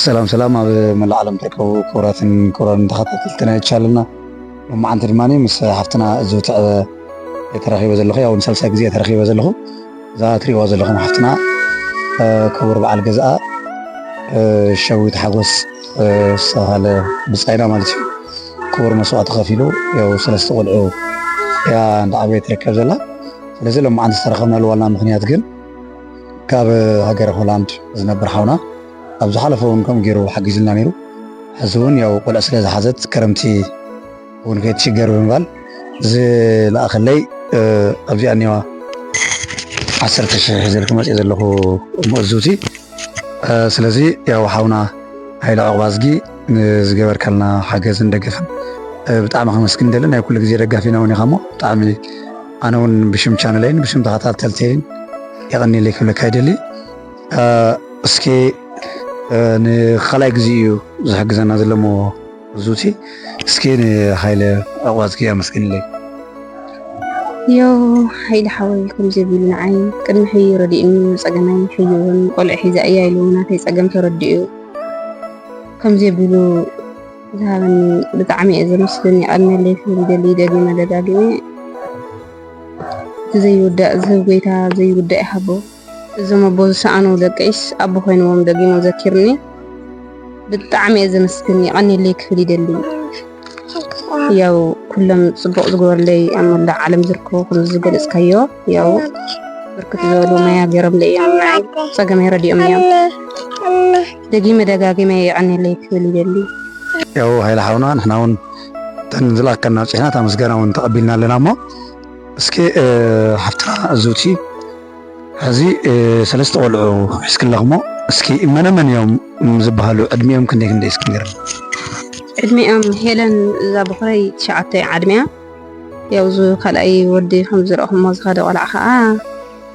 ሰላም ሰላም ኣብ መላእ ዓለም ትርከቡ ክቡራትን ክቡራን ተኸታተልቲ ናይ ቻልና ሎማዓንቲ ድማ ምስ ሓፍትና ዝውትዕበ ተረኺበ ዘለኹ ያው ንሳልሳይ ግዜ ተረኺበ ዘለኹ እዛ ትሪእዋ ዘለኹም ሓፍትና ክቡር በዓል ገዝኣ ሸዊት ሓጎስ ዝተባሃለ ብፃይና ማለት እዩ ክቡር መስዋዕቲ ከፊሉ ያው ሰለስተ ቆልዑ እያ እንዳዓበየ ትርከብ ዘላ ስለዚ ሎማዓንቲ ዝተረኸብናሉ ዋና ምክንያት ግን ካብ ሃገረ ሆላንድ ዝነብር ሓውና ኣብ ዝሓለፈ እውን ከምኡ ገይሩ ሓጊዙና ነይሩ። ሕዚ እውን ያው ቆልዕ ስለ ዝሓዘት ክረምቲ እውን ከይትሽገር ብምባል ዝለኣኸለይ ኣብዚኣ እኒዋ ዓሰርተ ሽሕ ሒዘልኪ መፅየ ዘለኹ መእዙቲ ስለዚ ያው ሓውና ሃይለ ዕቑባዝጊ ንዝገበርካልና ሓገዝን ደገፍን ብጣዕሚ ከመስግን ደሊ ናይ ኩሉ ግዜ ደጋፊና ውን ኢኻ እሞ ብጣዕሚ ኣነ ውን ብሽም ቻነለይን ብሽም ተኸታተልተይን የቐኒለይ ክብለካ ይደሊ እስኪ ንካልኣይ ግዜ እዩ ዝሕግዘና ዘለሞ ዙቲ እስኪ ንሃይለ ዕቑባዝጊ ኣመስግንለይ ዮ ሃይለ ሓወይ ከምዚ ቢሉ ንዓይ ቅድሚ ሕዩ ረዲኡኒ ፀገመይ ሕዩ እውን ቆልዕ ሒዛ እያ ኢሉ ናተይ ፀገም ተረዲኡ ከምዚ ኣቢሉ ዝሃበኒ ብጣዕሚ እየ ዘመስግን የቐንየለይ ክብል ይደሊ ደጊመ ደጋጊመ እቲ ዘይውዳእ ዝህብ ጎይታ ዘይውዳእ ይሃቦ እዞም ኣቦ ዝሰኣኑ ደቀይስ ኣቦ ኮይንዎም ደጊሞ ዘኪርኒ ብጣዕሚ እየ ዘመስግን የቐንየለይ ክብል ይደሊ ያው ኩሎም ፅቡቕ ዝገበርለይ ኣብ መላእ ዓለም ዝርከቡ ከም ዝገለፅካዮ ያው ብርክት ዝበሉ መያ ገይሮምለይ እዮም ፀገመይ ረዲኦም እዮም ደጊመ ደጋጊመ የዕንየለይ ክብል ይደሊ። ያው ሃይለ ሓውና ንሕና ውን እተን ዝለኣከልና ኣብፂሕና እታ ምስጋና ውን ተቐቢልና ኣለና እሞ እስኪ ሓፍትና እዙቲ ሕዚ ሰለስተ ቆልዑ ሒዝኪ ኣለኺ እሞ እስኪ መነ መን እዮም ዝበሃሉ ዕድሚኦም ክንደይ ክንደይ እስኪ ንገርኒ። ዕድሚኦም ሄለን እዛ ብኹረይ ትሽዓተ ዓድሚያ ያው እዚ ካልኣይ ወዲ ከምዝረእኹሞ ዝኸደ ቆልዓ ኸዓ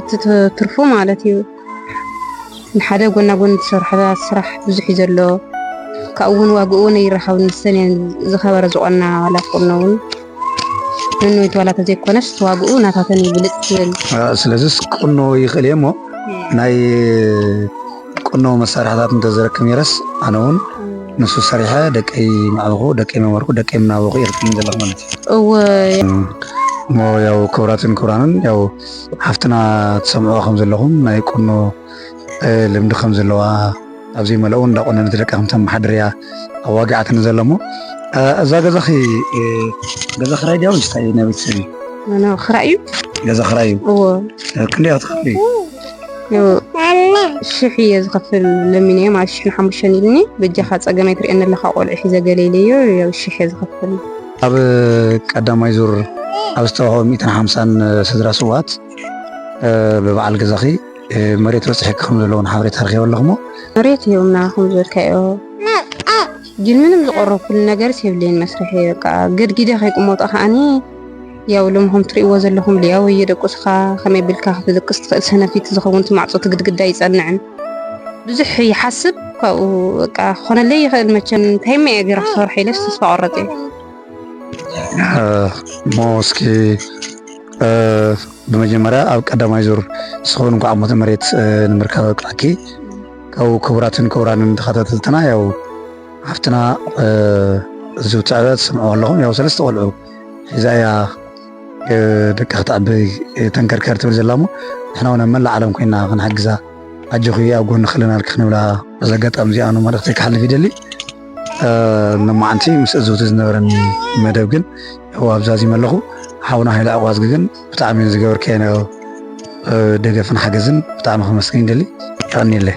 እቲ ትርፉ ማለት እዩ ንሓደ ጎና ጎኒ ዝሰርሖ ስራሕ ብዙሕ እዩ ዘሎ ካብኡ እውን ዋግኡ እውን ኣይራኸብን ንሰን እየን ዝኸበረ ዝኾና ዋላ ክኾኖ እውን ነንወይቲ ዋላ ተዘይኮነስ ዋግኡ ናታተን ይብልፅ ትብል ስለዚስ ክቕኖ ይኽእል እየ እሞ ናይ ቁኖ መሳርሕታት እንተዝረክብ ነይረስ ኣነ እውን ንሱ ሰሪሐ ደቀይ ምዓበኹ ደቀይ መመርኩ ደቀይ ምናበኹ እየ ክትብልኝ ዘለኹ ማለት እዩ እሞ ያው ክብራትን ክብራንን ያው ሓፍትና ትሰምዑ ከም ዘለኹም ናይ ቁኖ ልምዲ ከም ዘለዋ ኣብዚ መለኡ እንዳቆነነት ደቂ ከም ተመሓድር እያ ኣዋጊዓትኒ ዘሎ እሞ እዛ ገዛኺ ገዛ ክራይ ድያ ወይስ ናይ ቤተሰብ እዩ? ክራይ እዩ። ገዛ ክራይ እዩ። ክንደይ ክትከፍሊ? ሽሕ እየ ዝኸፍል ለሚነዮ ማለት ሽሕ ንሓሙሽተን ኢልኒ በጃኻ ፀገመ ኣይትርእየኒ ኣለኻ ቆልዑ ሒዘ ገለ ኢለዮ ያው ሽሕ እየ ዝኸፍል ኣብ ቀዳማይ ዙር ኣብ ዝተዋህበ ሚእትን ሓምሳን ስድራ ስዋት ብበዓል ገዛኺ መሬት በፅሒኪ ከም ዘለዎ ሓበሬታ ረኪበ ኣለኹሞ መሬት ይህብና ከም ዝበልካዮ ግን ምንም ዝቆረብኩሉ ነገር የብለይን መስርሒ በቃ ገድጊደ ከይቅመጦ ከዓኒ ያው ሎሚ ከም ትሪእዎ ዘለኹም ልያው እየደቁስኻ ከመይ ኣቢልካ ክትድቅስ ትኽእል ሰነፊት ዝኸውን እቲ ማዕጾ እቲ ግድግዳ ኣይጸንዕን ብዙሕ ይሓስብ ካብኡ በቃ ክኾነለይ ይኽእል መቸም እንታይ እሞ እየ ገይረ ክሰርሖ ኢለስ ተስፋ ቆረጽ እየ እሞ እስኪ ብመጀመርያ ኣብ ቀዳማይ ዙር ስኹን እንኳዕ ሞተ መሬት ንምርካብ ኣብቅዓኪ ካብኡ ክቡራትን ክቡራንን ተኸታተልትና ያው ሓፍትና እዚ ትዕበ ትስምዕዎ ኣለኹም ያው ሰለስተ ቆልዑ ሒዛ እያ ደቂ ክትዕቢ ተንከርከር ትብል ዘላ እሞ ንሕና እውን ኣብ መላእ ዓለም ኮይና ክንሓግዛ ኣጆኺ ኣብ ጎኒ ክልናልኪ ክንብላ በዚ ኣጋጣሚ እዚኣ ኑ መልእኽተይ ክሓልፍ ይደሊ ሎማዓንቲ ምስ እዝውቲ ዝነበረኒ መደብ ግን ያው ኣብዛዚመ ኣለኹ ሓውና ሃይለ ዕቋዝጊ ግን ብጣዕሚ ዝገበርከዮ ደገፍን ሓገዝን ብጣዕሚ ከመስግን ይደሊ ይቀኒለይ